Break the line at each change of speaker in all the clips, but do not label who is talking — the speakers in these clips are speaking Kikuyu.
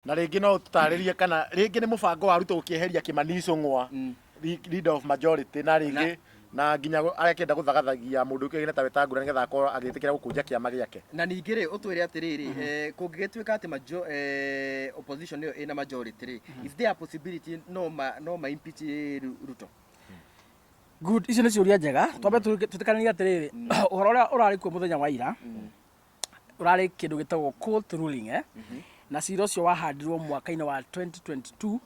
na rĩngĩ no ũtũtarĩrie kana rĩngĩ nĩ mũbango wa ruto gũkĩeheria kĩmani icũng'wa Mm. le- leader of majority na rĩngĩ na nginya gũ- akenda gũthagathagia mũndũ ũkĩgina ta wetangura nĩgetha akorwo agĩtĩkĩra gũkũnja kĩama gĩake na ningĩ rĩ ũtwĩre
atĩrĩrĩ eh, kũngĩgĩtuĩka atĩ majo- eh, opposition ĩyo ĩna majority rĩ is there a possibility no ma no ma impeach Ru- ruto
good icio nĩ ciũria njega twambe tũtĩkanĩria atĩrĩrĩ ũhoro ũrĩa ũrarĩ kuo mũthenya wa ira ũrarĩ kĩndũ gĩtagwo court ruling eh? na cira ũcio wahandirwo mwaka-inĩ wa 2022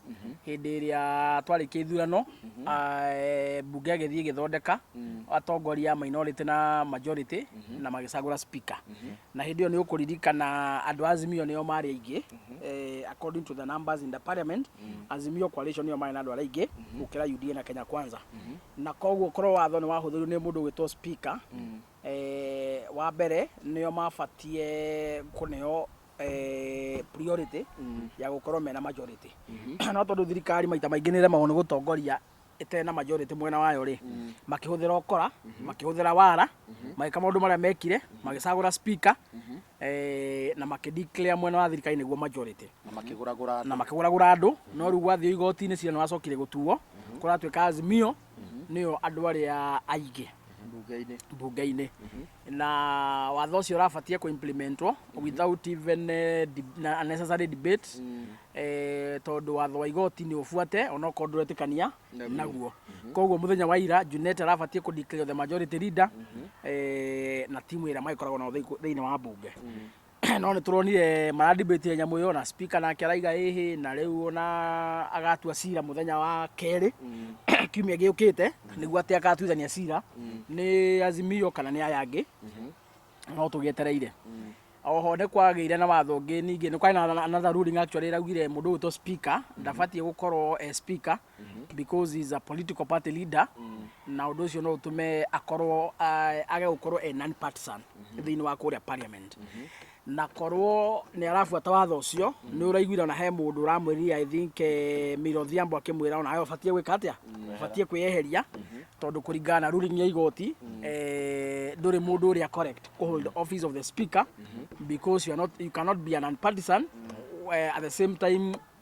hĩndĩ ĩrĩa twarĩkia ithurano ah, eh, mbunge agĩthiĩ ĩgĩthondeka atongoria minority na majority na magĩcagũra speaker na hĩndĩ ĩyo nĩ ũkũririkana andũ a azimio nĩo marĩ aingĩ eh, according to the numbers in the parliament azimio coalition nĩyo marĩ na andũ arĩa aingĩ gũkĩra UDA na Kenya kwanza na koguo korwo watho nĩ wahũthĩrirwo nĩ mũndũ ũgwĩtwo speaker Wa mbere nĩo mabatiĩ kũneo priority ya gũkorwo mena majority. No tondũ thirikari maita maingĩ nĩ ĩremagwo nĩ gũtongoria ĩtarĩ na majority mwena wayo rĩ, makĩhũthĩra ũkora, makĩhũthĩra wara, magĩka maũndũ marĩa mekire, magĩcagũra speaker na makĩ declare mwena wa thirikari nĩguo majority. Na makĩgũragũra andũ. Na makĩgũragũra andũ. No rĩu gwathiĩ igoti-inĩ cira nĩ wacokire gũtuo, kũratuĩka Azimio. nĩo andũ arĩa aingĩ mbunge-inĩ mbunge-inĩ na watho ũcio ũrabatie kũ implementwo without even eh, deb- na unnecessary debate eh, tondũ watho wa igoti nĩ ũbuate onokorwo ndũretĩkania Naguo. naguo koguo mũthenya wa ira Junet arabatie kũ declare the majority leader eh, na timu ĩrĩa magĩkoragwo nao thĩinĩ- thĩinĩ wa mbunge no nĩ tũronire mara debate nyamũ ĩyo na speaker nake araiga ĩhĩ na rĩu ona agatua cira mũthenya wa kerĩ kiumia gĩũkĩte nĩguo atĩ agatuithania cira nĩ azimio kana nĩ aya angĩ no tũgĩetereire oho nĩ kwagĩire na watho ũngĩ ningĩ nĩ kwarĩ na another ruling actually ĩraugire mũndũ ũyũ to speaker ndabatiĩ gũkorwo e speaker because he is a political party leader na ũndũ ũcio no ũtũme akorwo ah, age gũkorwo e non partisan thĩinĩ wa kũrĩa parliament na korwo nĩ arabuata watho ũcio nĩ ũraiguire ona he mũndũ ũramwĩrire i think eh, Mira Odhiambo akĩmwĩra ona we ũbatiĩ gwĩka atĩa ũbatiĩ kwĩyeheria tondũ kũringana na ruling ya igoti eh, ndũrĩ mũndũ ũrĩa correct kũ hold office of the speaker because you, are not, you cannot be an unpartisan eh, at the same time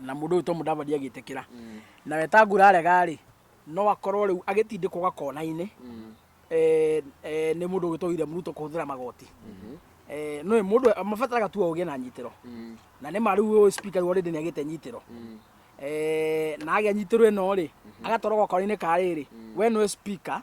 na mũndũ ũyũ to mũdavadi agĩtĩkĩra na wetangura arega rĩ no akorwo rĩu agĩtindĩkwo gakona-inĩ eh, eh, nĩ mũndũ ũgĩtwo William Ruto kũhũthĩra magoti Eh, nĩ mũndũ mabataraga tu ũgĩe na nyitĩro na nĩ ma rĩu ũyũ spika rĩu already nĩ agĩte nyitĩro Eh, na agĩa nyitĩro ĩno rĩ agatwarwo gakona-inĩ ka rĩrĩ we nĩwe spika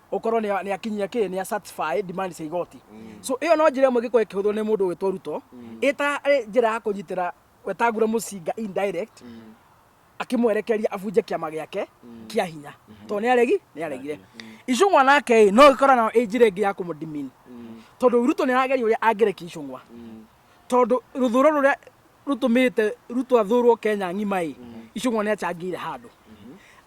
ukorwo ni ni akinyia ki ni satisfy demand cia igoti so iyo no njira imwe gikorwo ikihuthwo ni mundu witwo ruto ita njira ya kunyitira wetangura mucinga indirect akimwerekeria abunje kiama giake kia hinya to ni aregi ni aregire icungwa nake ĩ, no gikora nayo ĩ njira ingi ya kumudimin tondu ruto ni arageria uria angereki icungwa tondu ruthuro ruria rutumite ruto athurwo kenya ng'ima ĩ icungwa ni acangire handu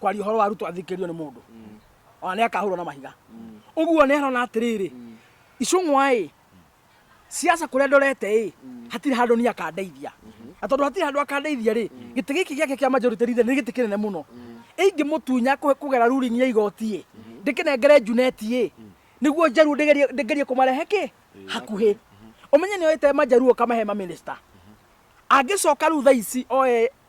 kwaria horo wa ruto athikirio ni mundu ona ni akahurwo na mahiga uguo ni arona atiriri icung'wa i siasa kuria ndorete i hatiri handu ni akandeithia na tondu hatiri handu akandeithia ri giti giki giake kia majority leader ni giti kinene muno ingĩmũtunya kũ- kũgera ruling ya igoti ĩ ndĩkĩnengere njuneti ĩ nĩguo njaruo ndĩgerie ndĩgerie kũmarehe kĩ hakuhĩ ũmenye nĩ oĩte manjaruo kamahe maminista angĩcoka rĩu thaa ici oe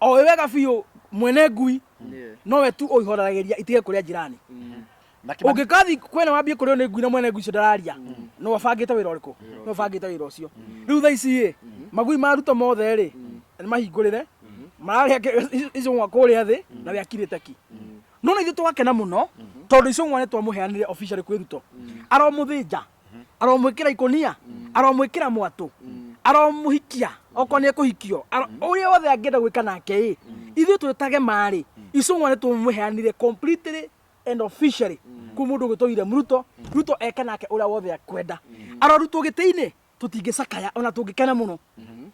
oĩ wega biũ mwene ngui nowe tu ũihoragĩria itige kũrĩa njirani ũngĩkathi kwene wambie kũrĩo nĩ ngui na mwene ngui icio ndararia no abangĩte wĩra ũrĩkũ no abangĩte wĩra ũcio rĩu tha ici ĩ magui ma ruto mothe rĩ mahingũrĩre mararĩa kĩ- icũng'wa kũrĩa thĩ na we akirĩte ki nona ithuĩ twakena mũno tondũ icũng'wa nĩ twamũheanire officially kwĩ ruto aromũthĩnja aromwĩkĩra ikũnia aromwĩkĩra mwatũ aromũhikia okorwo nĩ ekũhikio aro- ũrĩa wothe angĩenda gwĩka nake ĩ ithuĩ twĩtage marĩ icũng'wa nĩ tũmũheanire completely and officially kwĩ mũndũ ũgĩtwo William Ruto Ruto eke nake ũrĩa wothe akwenda arorutwo gĩtĩ-inĩ tũtingĩcakaya ona tũngĩkena mũno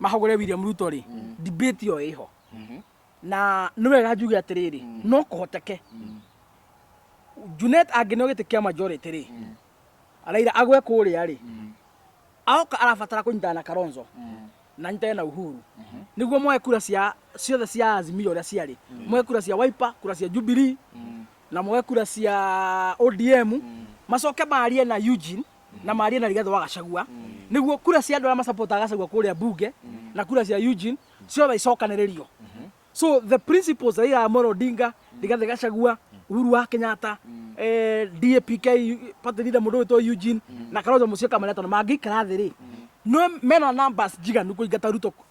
mahũgũre William Ruto rĩ debate ĩyo ĩho na nĩ wega njuge atĩrĩrĩ no kũhoteke Junet angĩneo gĩtĩ kĩa majority rĩ Raila agwe kũrĩa rĩ aoka arabatara kũnyitana na Kalonzo na nyitane na Uhuru nĩguo moe kura cia ciothe cia Azimio ũrĩa ciarĩ moe kura cia Wiper kura cia Jubilee na moe kura cia ODM macoke marie na Eugene na marie na rigathĩ wa gacagua nĩguo kura cia andũ arĩa macapotaga gacagua kũrĩa mbunge na kura cia eugene ciothe icokanĩrĩrio so the principles raila amolo odinga rigathĩ gacagua uhuru wa kenyatta eh, dapk party leader mũndũ wĩtwo eugene na kalonzo mũcio kamarĩatona mangĩikara thĩ rĩ no mena numbers njiganu kũingata ruto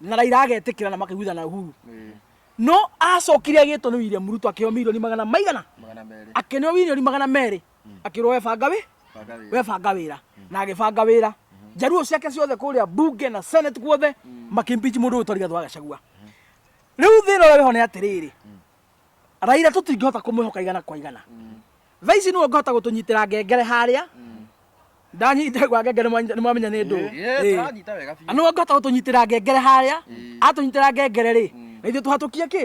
na Raila agetĩkĩra na makaiguithana na Uhuru no acokire agĩtwo nĩ William Ruto akĩheo milioni magana maigana magana merĩ akĩneo milioni magana merĩ akĩrwo webanga wĩ banga wĩ webanga wĩra na agĩbanga wĩra njaruo ciake ciothe kũrĩa bunge na senate guothe makĩmpichi mũndũ ũyũ twarĩ gathũ agacagua rĩu thĩna ũrĩa wĩho nĩ atĩrĩrĩ Raila tũtingĩhota kũmwĩhoka igana kwa igana thaa ici nĩwe ũngĩhota gũtũnyitĩra ngengere harĩa ndanyita gwa ngengere nĩmwamenya nĩ ndũ
nĩwe ũngĩhota gũtũnyitĩra
ngengere harĩa atũnyitĩra ngengere rĩ na ithuĩ tũhatũkie kĩ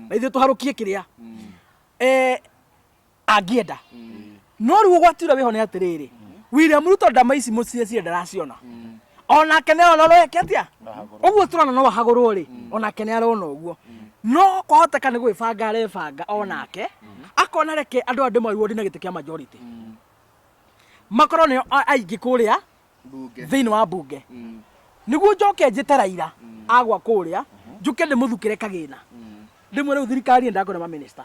na ithuĩ tũharũkie kĩrĩa angĩenda no rĩu ũgwatiura wĩho nĩ atĩrĩrĩ william ruto ndama ici mũciĩ ciĩ ndaraciona onake nĩ arona ũreke atĩa ũguo tũrona no ahagũrwo rĩ onake nĩ arona ũguo no kwahoteka nĩ gwĩbanga arebanga onake akona reke andũ andũ maruo na gĩtĩ kĩa majority makorwo nĩo a- aingĩ kũrĩa Mbunge. thĩinĩ wa mbunge nĩguo njoke njĩte raira agwa kũrĩa njũke ndĩmũthukĩre kagĩna ndĩmwĩre rĩu thirikari nĩ ndakwĩra maminista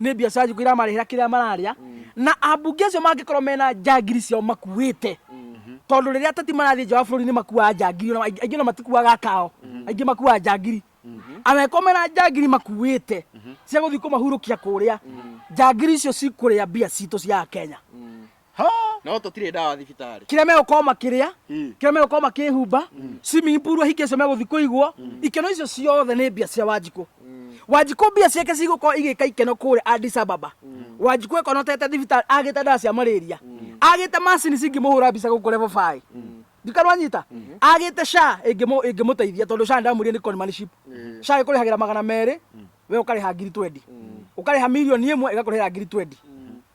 nĩ biacara irĩkũ iramarĩhĩra kĩrĩa mararĩa na ambunge acio mangĩkorwo mena njangiri ciao makuĩte tondũ rĩrĩa ateti marathiĩ nja wa bũrũri nĩ makuaga njangiri ona aingĩ aingĩ ona matikuaga kao aingĩ makuaga njangiri angĩkorwo mena njangiri makuĩte cia gũthiĩ kũmahurũkia kũrĩa njangiri icio cikũrĩa mbia citũ cia kenya Ha! No
tũtirĩ ndawa thibitarĩ. kĩrĩa megũkorwo makĩrĩa
Mm. kĩrĩa megũkorwo makĩhumba swimming pool ahinge icio megũthiĩ kũigwo ikeno icio ciothe nĩ mbia cia wanjikũ wanjikũ mbia ciake cigũkorwo igĩka ikeno kũrĩa Addis Ababa wanjikũ ekonotete thibitarĩ agĩte ndawa cia malaria agĩte macini cingĩmũhũra mbica gũkũ level five ndikano anyita agĩte sha ĩngĩmũ- ĩngĩmũteithia tondũ sha ndamwĩrire nĩ conmanship sha ĩkũrĩhagĩra magana merĩ we ũkarĩha ngiri twendi ũkarĩha mirioni ĩmwe ĩgakũrĩhĩra ngiri twendi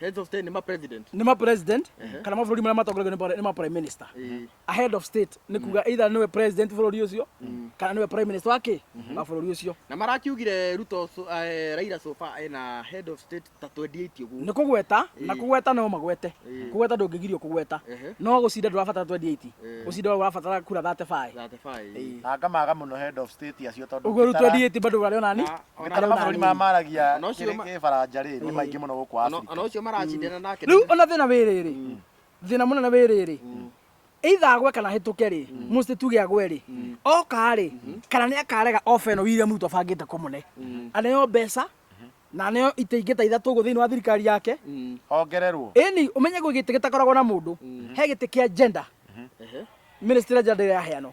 heads of state nĩ ma
president nĩ ma president kana
mabũrũri marĩa matongoragia nĩ ma- nĩ ma prime minister Ĩĩ. a head of state nĩ kuga either nĩwe president bũrũri ũcio kana nĩwe prime minister wa kĩ wa bũrũri ũcio na marakiugire
ruto so- eh, raira sofa ena head of state ta 28 nĩ ũguo kũgweta na
kũgweta no magwete kũgweta ndũngĩgirio kũgweta Ehe. no gũcinda ndũrabatara 28 gũcinda ũrabatara kura 35 35 na ngamaga mũno
head of state acio tondũ ũguo rĩu Kitara- 28 bado
ũrarĩona ni Na- Kana mabũrũri maya
maragia Ona ũcio kĩrĩ- ma- kĩbaranja rĩ nĩ maingĩ mũno gũkũ Ona- Afrika. ona ũcio maracindana nake
rĩu ona thĩna wĩ rĩrĩ
thĩna mũnene wĩ rĩrĩ either agwe kana hĩtũke rĩ mũcĩ tuge agwe rĩ oka rĩ kana nĩ akarega oba ĩno William Ruto abangĩte kũmũne aneo mbeca na aneo itĩ ingĩ ta ithatũ ũguo thĩinĩ wa thirikari yake Hongererwo.
ĩni ũmenye gwĩ
gĩtĩ gĩtakoragwo na mũndũ he gĩtĩ kĩa gender Ehe. ministry gender ndĩraheanwo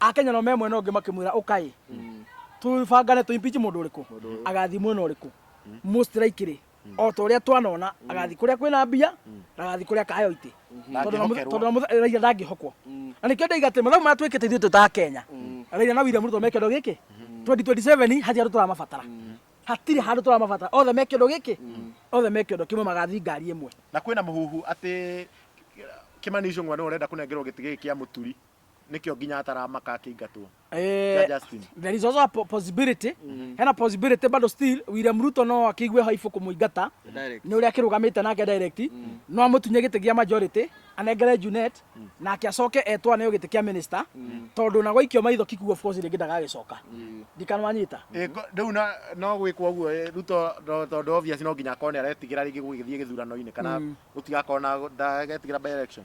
Akenya nao me mwena ũngĩ makĩmwĩra ũkaĩ tũbangane tũ impeach mũndũ ũrĩkũ agathiĩ mwena ũrĩkũ mũ strike rĩ o ta ũrĩa twanona agathiĩ kũrĩa kwĩna mbia na agathiĩ kũrĩa akaheo itĩ Tondũ na mũthe- tondũ na mũthe- Raila ndangĩhokwo na nĩkĩo ndaiga atĩ mathabu maya twĩkĩte ithuĩ twĩ ta Akenya Raila na William Ruto me kĩondo gĩkĩ 2027 hatirĩ handũ tũramabatara hatirĩ handũ tũramabatara othe me kĩondo gĩkĩ othe me kĩondo kĩmwe magathiĩ ngari ĩmwe na kwĩna mũhuhu
atĩ Kimani Ichung'wa nĩ ũrenda kũnengerwo gĩtĩ gĩkĩ kĩa mũturi nĩkĩo nginya ataramaka akĩingatwo Kia Eh, Justin.
there is also a po- possibility hena possibility bado still William Ruto no akĩigue haibu kũmũingata Direct. nĩ ũrĩa akĩrũgamĩte nake direct no amũtunye gĩtĩ gĩa majority anengere Junet nake acoke etwa nĩ gĩtĩ kĩa minister tondũ na gwaikio maitho kikuo of course rĩngĩ ndagagĩcoka ndikanwanyita Ĩ, ko- rĩu na-
no gwĩkwo ũguo ĩ, ruto ndo- tondũ obvious no nginya akone aretigĩra rĩngĩ gũgĩthiĩ gĩthurano-inĩ kana gũtigakorwo na ndagetigĩra by election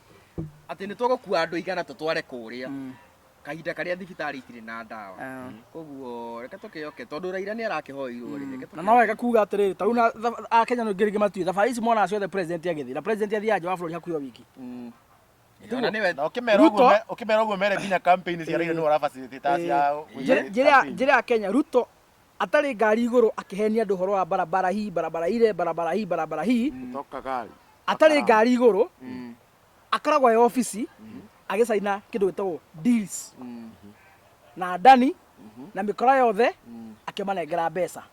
atĩ nĩ tũgũkua andũ igana tũtware kũrĩa Mm. kahinda karĩa thibitarĩ itirĩ na ndawa Ah. koguo reke tũkĩoke tondũ raira nĩ arakĩhoirwo rĩ reke na no wega kuga atĩrĩrĩ
tarĩu na thab- akenya nĩ ngĩrĩngĩ matiĩ thabarĩ ici monaga ciothe president agĩthiĩ na president athiaga nja wa bũrũri hakuhĩ o wiki Mm.
Ona nĩwe- Na ũkĩmera Ruto- ũguo me- ũkĩmera ũguo mere nginya campaign cia Raila nĩ ũrabacĩrĩte ta cia Njĩra- njĩra ya- njĩra ya kenya
ruto Atarĩ ngari igũrũ akĩhenia andũ ũhoro wa barabara hii, barabara ile, barabara hii, barabara hii. Kutoka
gari. Atarĩ ngari
igũrũ akoragwo e obici agĩcaina kĩndũ gĩtagwo deals na Dani na mĩkora yothe akĩmanengera mbeca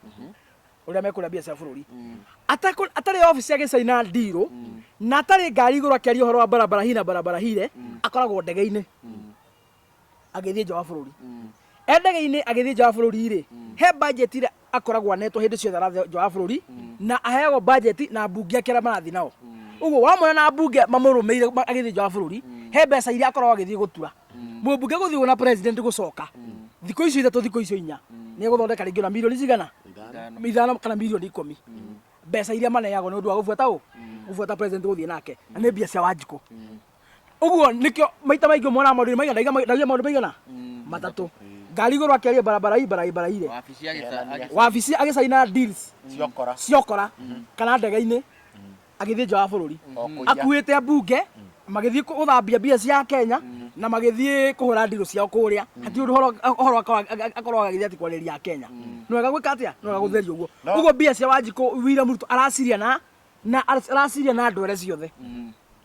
ũrĩa mekũrĩa mbia cia bũrũri Atakũ- atarĩ obici agĩcaina ndirũ na atarĩ ngari igũrũ akĩaria ũhoro wa barabara hii na barabara hile akoragwo ndege-inĩ agĩthiĩ nja wa bũrũri mm. e ndege-inĩ agĩthiĩ nja wa bũrũri rĩ mm. he bajeti ĩrĩa akoragwo anetwo hĩndĩ ciothe arathiĩ nja wa bũrũri mm. na aheagwo bajeti na mbunge ake arĩa marathiĩ nao ũguo wamwona na mbunge mamũrũmĩire agĩthiĩ nja wa bũrũri he mbeca iria akoragwo agĩthiĩ gũtura mũmbunge gũthiĩ na president gũcoka thikũ icio ithatũ thikũ icio inya nĩ egũthondeka rĩngĩ ona mirioni cigana ithano kana mirioni ikũmi mbeca iria maneagwo nĩ ũndũ wa gũbuata ũ gũbuata president gũthiĩ nake na nĩ mbia cia wanjikũ uguo nikio maita maingi mwana maundu maigana ndaiga ndaiga maundu maigana matatu ngari iguru akiaria barabara hii bara bara ile wabici agĩta- wabici agicaina deals ciokora ciokora kana ndege-inĩ agĩthiĩ nja wa bũrũri Okũiya. akuĩte mbunge magĩthiĩ gũthambia mbia cia kenya na magĩthiĩ kũhũra ndirũ ciao kũrĩa hati ũndũ ũhoro- ũhoro akorwo- akorwo agĩthiĩ ati kwarĩria kenya nĩ wega gwĩka atĩa nĩ wega gũtheria ũguo No. ũguo mbia cia wanjikũ wira mũrutwo araciria na na araciria na ndwere ciothe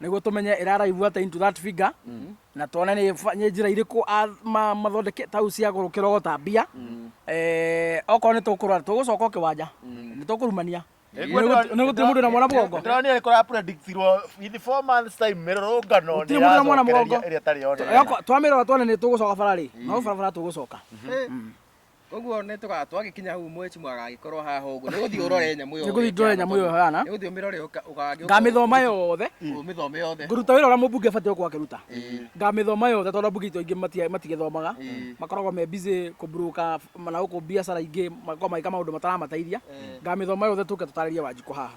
niguo tumenye iraraivu ata into that figure mm-hmm. na tuone ni nĩ njĩra irĩkũ mathondeke tau cia gũkĩrogota mbia mm-hmm. eh, okorwo nĩ tũkũrora tũgũcoka ũkĩwanja mm-hmm. nĩ tũkũrumania nä gå tä må ndå na mwana mugongo ndä kå rapredictirwo
in four months time mä rorå nä na mwana
mugongo
twamä rora twone nä tå
gå coka bara rä no barabara tå gå coka
Koguo nĩ tũga twagĩkinya hau mweci mwagagĩkorwo haha ũguo. Nĩ gũthiĩ ũrore nyamũ ĩyo. Nĩ gũthiĩ ndore nyamũ ĩyo hana.
Nĩ gũthiĩ ũmĩrore
ũgagĩũka. Ngamĩthoma yothe.
Ũmĩthome yothe.
Ngũruta wĩra ũrĩa mũmbunge abatiĩ
gũkorwo akĩruta. Ngamĩthoma yothe tondũ ambunge aitũ aingĩ matigĩthomaga. Makoragwo me busy kũ broker na gũkũ biacara ingĩ makoragwo magĩka maũndũ mataramateithia. Ngamĩthoma yothe tũke tũtarĩrie Wanjikũ haha.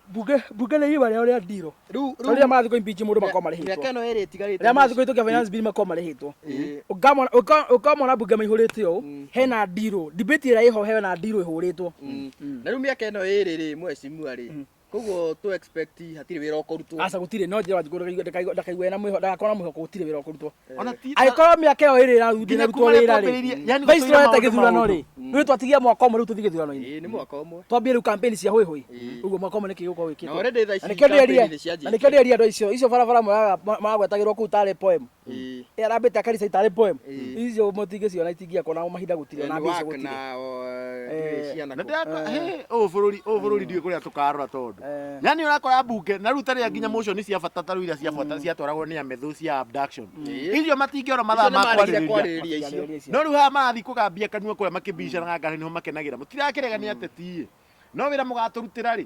Bunge bunge nĩ iwa rĩao
rĩa ndiro. Rĩu Rĩu rĩa mathuko impeach mũndũ makoma rĩhĩtwo. mĩaka ĩno ĩrĩ ĩtigarĩte. Rĩa
mathuko itokia finance bill
makoma rĩhĩtwo. Ĩĩ. Ũkamona ũka- ũkamona bunge maihũrĩte ũũ hena ndiro. Debate ĩrĩa ĩho hena ndiro ĩhũrĩtwo. Na rĩu mĩaka
ĩno ĩrĩ rĩ mheshimiwa rĩ koguo tũ expect hatirĩ wĩra ũkũrutwo. Aca gũtirĩ no njĩra wanjikũ
ndakaigue ena mwĩho ndagakorwo na mwĩhoko gũtirĩ wĩra ũkũrutwo. angĩkorwo mĩaka ĩyo ĩrĩ ĩraruthi na rutwo wĩra rĩ vaisrael ta gĩthurano rĩ rĩu twatigia mwaka ũmwe rĩu tũthiĩ gĩthurano-inĩ twambie
rĩu kampeni cia hwĩ
hwĩ ũguo mwaka ũmwe nĩkĩ gĩgũkorwo wĩkĩte na
nĩkĩo ndĩreria
andũ icio icio barabara maragwetagĩrwo kũu tarĩ poem arambĩte akaricai tarĩ poem icio mũtingĩciona ingĩakwa nao mahinda gũtirĩ ona mbica gũtirĩ
na o, ndirĩ Eh, ciana na kũ- ndĩrakora he ũyũ bũrũri ũyũ bũrũri ndiũĩ kũrĩa tũkarora tondũ Eh. nyani ũrakora mbunge na rĩu tarĩa nginya motion cia bata tarĩu iria cia bata ciatwaragwo nĩ amethũ cia abduction Eh. icio matingĩona mathaa Icio ma nĩmarĩhire kwarĩrĩria kwarĩrĩria icio Kĩarĩrĩria icio. no rĩu haha marathiĩ kũgambia kanua kũrĩa makĩbicanaga ngari nĩho makenagĩra mũtirakĩrega nĩ ateti no wĩra mũgatũrutĩra rĩ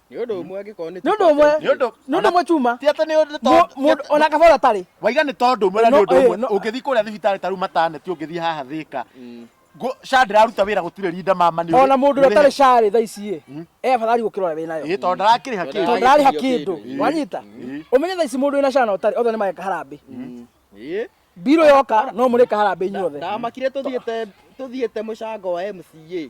nĩ ũndũ ũmwe angĩkorwo nĩ
nĩ ũndũ ũmwe Nĩ ũndũ- nĩ ũndũ
ũmwe chuma ti atĩ nĩ ũndũ Mũ- tondũ-
mũndũ ona kabora tarĩ
waiga nĩ tondũ ũmwe na nĩ
No, ũndũ eh, ũmwe no. ũngĩthiĩ kũrĩa thibitarĩ ta rĩu mataneti ũngĩthiĩ haha thĩka Ngũ- sha ndĩraruta wĩra gũtirĩ rinda mama nĩ ona mũndũ ũrĩa ũtarĩ carĩ
tha ici ĩ e afadhali gũkĩrora wĩ nayo ĩĩ tondũ ndarakĩrĩha Tondũ kĩndũ
tondũ ararĩha
Ararĩhithio kĩndũ kĩndũ. wanyita Ĩĩ. ũmenye tha ici mũndũ wĩna cana ũtarĩ othe nĩ mageka harambĩ Ĩĩ. mbirũ yoka no mũrĩka harambĩ inyuothe ndamakire tũthiĩte
tũthiĩte mũcango wa MCA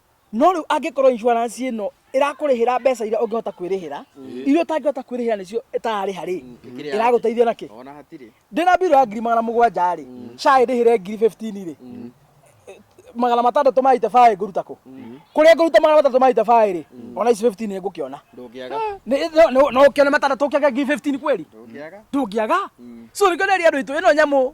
No rĩu angĩkorwo insurance ĩno ĩrakũrĩhĩra mbeca iria ũngĩhota kwĩrĩhĩra iria ũtangĩhota kwĩrĩhĩra nĩcio ĩtararĩha rĩ ĩragũteithia nakĩ Ona hatirĩ. ndĩna
mbirũ ya ngiri magana
mũgwanja rĩ cai ndĩhĩre ngiri 15 rĩ magana matandatũ ma itebaĩ ngũruta kũ kũrĩa ngũruta magana matandatũ ma itebaĩ rĩ ona ici 15 ngũkĩona Ndũngĩaga.
Nĩ- no- no- no
ũkĩone matandatũ ũkĩaga ngiri 15 kweli Ndũngĩaga. ndũngĩaga so nĩkĩo nderia andũ aitũ ĩno nyamũ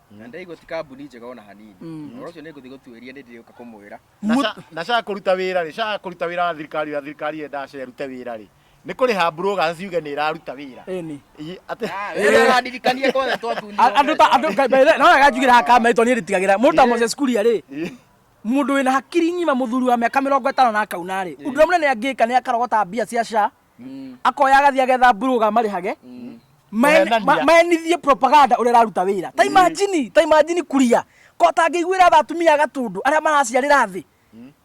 na ndaigua ti kambuni njega ona hanini Mm. ũhoro ũcio nĩ ngũthiĩ gũtuĩria nĩ ndĩrĩũka kũmwĩra Mut- ndacaga
kũruta wĩra rĩ caga kũruta wĩra wa thirikari ũrĩa thirikari yendaga cerute wĩra rĩ nĩ kũrĩ ha broga ciuge nĩ ĩraruta wĩra Ĩni. Ĩ- atĩ Ah, wĩra
ũrandirikania kwothe twatunire A- andå ta andå
ngai- ngai- no wega njugä ra hakama itwa niä nditigagä ra må ta moses kuria rä må ndå wä na hakiri ng'ima må thuri wa mä aka mä rongo ätano na akauna rä å ndå rä a må nene angä ka nä akarogota mbia cia ca mm. akoya agathia getha mburuga marihage mm. maenithie propaganda uria raruta wira ta mm. imagine ta imagine kuria ko tangĩiguĩra tha atumia gatundu arĩa maraciarĩra thĩ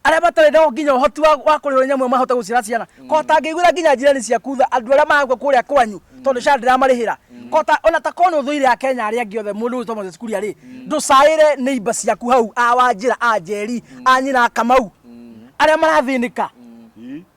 arĩa matarĩ na nginya ũhoti wa kũrĩo nyamũ mahote gũciara ciana ko tangĩiguĩra nginya njirani ciaku tha andũ arĩa maragua kũrĩa kwanyu tondũ cara ndĩramarĩhĩra kota ona ta kono thũire ya Kenya arĩa angĩ othe mũndũ ũyũ Thomas Kuria rĩ ndũcaĩre nĩ imba ciaku hau a wanjĩra a njeri a nyina kamau arĩa marathĩnĩka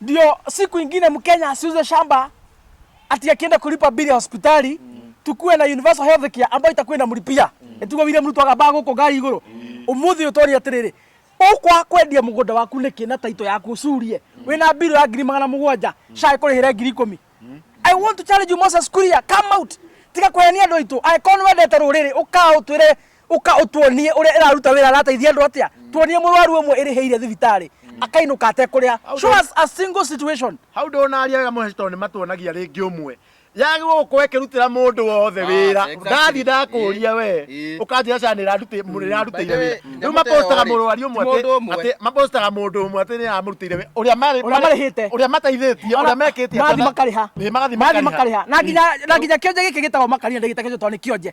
ndio siku ingine Mkenya asiuze shamba ati akienda kulipa bili ya hospitali tukuwe na universal health care ambayo itakuwa inamlipia etugo William Ruto agaba guko ngari iguru umuthi utori atiriri ukwa kwendia mugunda waku niki na taito yaku ucurie wina bili ya ngiri magana mugwanja cai kurihire ngiri ikumi I want to challenge you Moses Kuria come out tiga kwehenia andu aitu angĩkorwo nĩ wendete rũrĩrĩ ũkaa ũtwĩre uka utuonie uria iraruta wira arateithia andu atia tuonie murwaru umwe irihiire thibitari akainuka atekuria show us a single situation hau ndonaria wega
mũheci tondũ nĩ matuonagia rĩngĩ ũmwe yagĩrwo gũkorwo ĩkĩrutĩra mũndũ wothe wĩra exactly. ndathiĩ ndakũria we Ĩ, ĩ. ũkanjĩra cana By nĩrarutĩire the wĩra way, rĩu nyamũ mapostaga ta ĩyo-rĩ, mũrwari ũmwe ti mũndũ atĩ- ũmwe. atĩ mapostaga mũndũ ũmwe atĩ nĩaramũrutĩire wĩra ũrĩa marĩ- Ũrĩa marĩhĩte. ũrĩa mateithĩtie ũrĩa mekĩtie Mathi makariha. Ĩ,
magathiĩ mathi makariha makariha na nginya na nginya kionje giki gitagwo makariha ndigita kijo toni kionje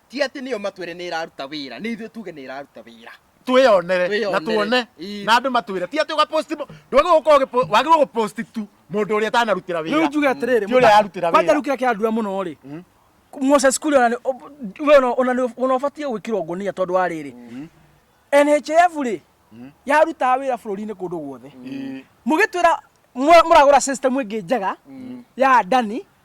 ti atĩ nĩo matwĩre nĩ ĩraruta wĩra nĩ ithuĩ tuge nĩ ĩraruta wĩra twĩyonere
Twĩyonere. na tuone Ii. na andũ matwĩre ti atĩ ũgaposti mo- ndwagĩrĩirwo gũkorwo ũgĩpo- wagĩrĩirwo gũposti tu mũndũ ũrĩa ũtanarutĩra wĩra rĩu njuge atĩrĩrĩ Ti ũrĩa
arutĩra wĩra. kwanja rĩu
kĩrĩa kĩrandura mũno rĩ
moses kuri ona nĩ- o- we ona- ona nĩ- ona ũbatiĩ gwĩkĩrwo ngonia tondũ wa rĩrĩ nhf rĩ yarutaga wĩra bũrũri-inĩ kũndũ guothe mũgĩtwĩra mwa- mũragũra system ĩngĩ njega ya ndani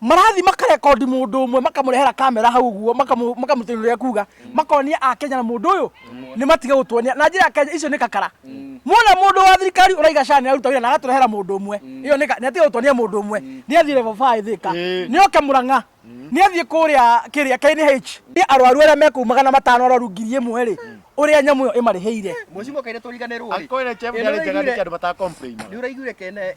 marathi makarekondi mundu umwe makamurehera kamera hau guo makamutunya uria kuga makonia a Kenya na mundu uyu ni matige gutuonia na njira Kenya icio ni kakara mona mundu wa thirikari uraiga shani aruta wira na agaturehera mundu umwe iyo ni ni atige gutuonia mundu umwe ni athire level 5 thika ni oke muranga ni athie kuria kiria KNH ni arwaru aria meku magana matano arwaru ngiri imwe ri uria nyamu iyo imariheire mucimo kaire turiganirwo
ri akwire chef ni ari njega ni
andu bata complain ni uraigure kene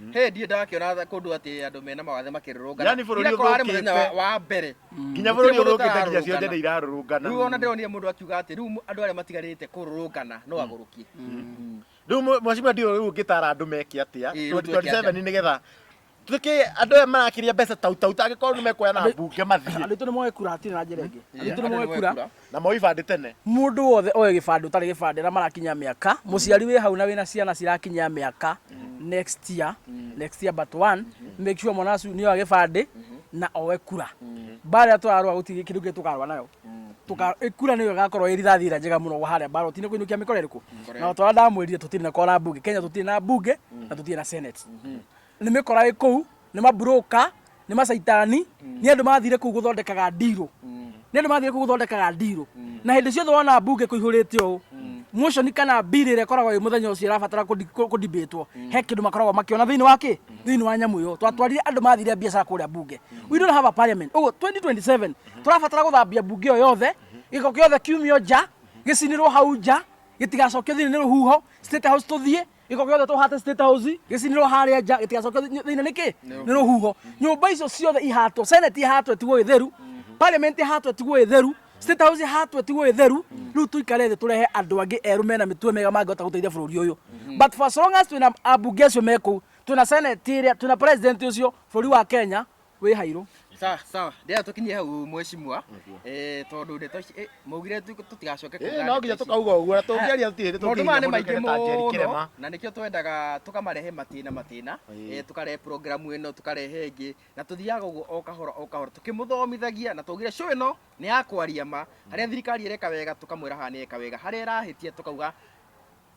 Mm. Hey, ndiĩ ndakiona tha- kũndũ atĩ andũ mena mawathe makĩrũrũngana Yaani bũrũri Ira korwo harĩ mũthenya
wa- ũthũkĩte. wa mbere
nginya bũrũri Gũtirĩ mũndũ ũthũkĩte
nginya ciothe ũtararũrũngana. nĩ irarũrũngana rĩu ona ndĩronire mũndũ
akiuga atĩ rĩu andũ arĩa matigarĩte kũrũrũngana no agũrũkie Mm. rĩu
mwe- mwacimba ndio rĩu ngĩtara andũ meke atĩa Ĩĩ, rĩu twĩke 27 atĩa? nĩgetha tuĩke andũ aya marakĩria mbeca tautau tangĩkorwo nĩ mekuoya na mbunge mathiĩ andå aitå nä moe kura atirä na
njä ra ä ngä andå aitå nĩ moe kura Na moe ibandĩ tene.
Mũndũ wothe oe
gĩbandĩ ũtarĩ gĩbandĩ arĩa marakinyia mĩaka, mũciari wĩ hau na wĩna ciana cirakinyia mĩaka next year, next year but one, make sure mwana wacu nĩoya gĩbandĩ na oe kura. Mbara ĩrĩa tũrarũa gũtirĩ kĩndũ kĩngĩ tũkarũa nayo. Tũka, ĩ- kura nĩyo ĩgakorwo ĩ rithathi ĩrĩa njega mũno harĩa mbaroti-inĩ kũinũkia mĩkora ĩrĩkũ. Na o ta ũrĩa ndamwĩrire tũtirĩ na kora mbunge. Kenya tũtirĩ na mbunge na tũtirĩ na senate. nĩ mĩkora ĩ kũu nĩ mabroka nĩ macaitani nĩ andũ mathire kũu gũthondekaga ndirũ nĩ andũ mathire kũu gũthondekaga ndirũ na hĩndĩ ciothe wona mbunge kũihũrĩte ũũ motion kana bill ĩrĩa ĩkoragwo ĩ mũthenya ũcio ĩrabatara kũdibĩtwo he kĩndũ makoragwo makĩona thĩinĩ wa kĩ thĩinĩ wa nyamũ ĩyo twatwarire andũ mathire biacara kũrĩa bunge we don't have a parliament ũguo 2027 tũrabatara gũthambia bunge ĩyo yothe gĩko gĩothe kiumio nja gĩcinĩrwo hau nja gĩtigacokio thĩinĩ nĩ rũhuho state house tũthiĩ giko giothe tuhate state house gicinirwo haria nja gitigacoke thiini niki ni ruhuho nyumba icio ciothe ihatwo senate ihatwo tigwo itheru parliament ihatwo tigwo itheru state house ihatwo tigwo itheru riu tuikare thi turehe andu angi eru mena mitwe mega mangihota guteithia bururi uyu but for so long as twina ambunge acio meku twina senate iria twina president ucio bururi wa kenya wĩ hairũ sawa sawa ndĩra
tũkinyie hau mwecimwa eh tondũ ndeto ici eh, maugire tu- tũtigacoke kuga Eh, no nginya ndeto ici. tũkauga
ũguo na tũngĩaria tũtirĩ maũndũ maya nĩ maingĩ tũngĩria
ta njeri mũno kĩrema na nĩkĩo twendaga tũkamarehe matĩna matĩna Ĩĩ. eh, tũkarehe programu ĩno tũkarehe ĩngĩ na tũthiaga ũguo o kahora o kahora tũkĩmũthomithagia na twaugire show ĩno nĩ ya kwaria ma harĩa thirikari ĩreka wega tũkamwĩra haha nĩ ĩka wega harĩa ĩrahĩtia tũkauga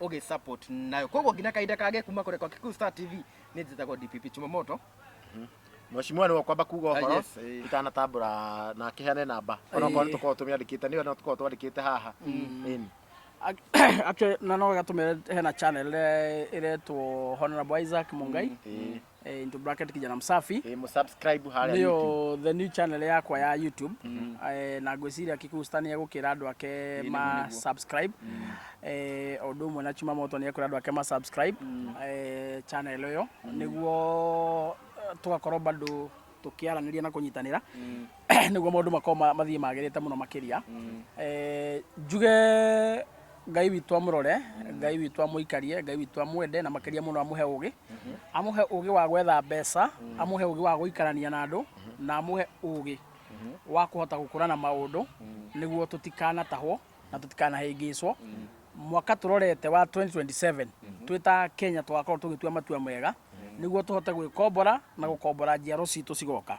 ũgĩ support nayo koguo nginya kahinda kage kuma kũrekwa Kikuyu Star TV nĩ njĩtagwo DPP Chumamoto
Mheshimiwa nĩ wakwamba kuga Ah, ũhoro yes, eh. itanatambũra na kĩheane namba onokorwo nĩ tũkorwo tũmĩandĩkĩte nĩyo no tũkorwo twandĩkĩte haha Ĩni. Ac-
actually na no gatũmĩre hena channel ĩre- ĩretwo honorable isaac mungai eh, into bracket kijana msafi Eh, msubscribe harĩa YouTube.
nĩyo the new channel yakwa
ya youtube eh, na ngwĩciria kikusta nĩ egũkĩra andũ ake ma subscribe eh, o ũndũ ũmwe na chuma moto nĩ ekũra andũ ake ma subscribe eh, channel ĩyo nĩguo eh, tũgakorwo bado tũkĩaranĩria na kũnyitanĩra nĩguo maũndũ makorwo ma- mathiĩ magĩrĩte mũno makĩria Eh, njuge ngai witũ amũrore ngai witũ amũikarie ngai witũ amwende na makĩria mũno amũhe ũgĩ amũhe ũgĩ wa gwetha mbeca amũhe ũgĩ wa gũikarania na andũ na amũhe ũgĩ wa kũhota gũkũrana maũndũ nĩguo tũtikanatahwo na tũtikanahĩngĩcwo mwaka tũrorete wa 2027 twĩ ta kenya tũgakorwo tũgĩtua matua mega nĩguo tũhote gwĩkombora na gũkombora njiaro citũ cigoka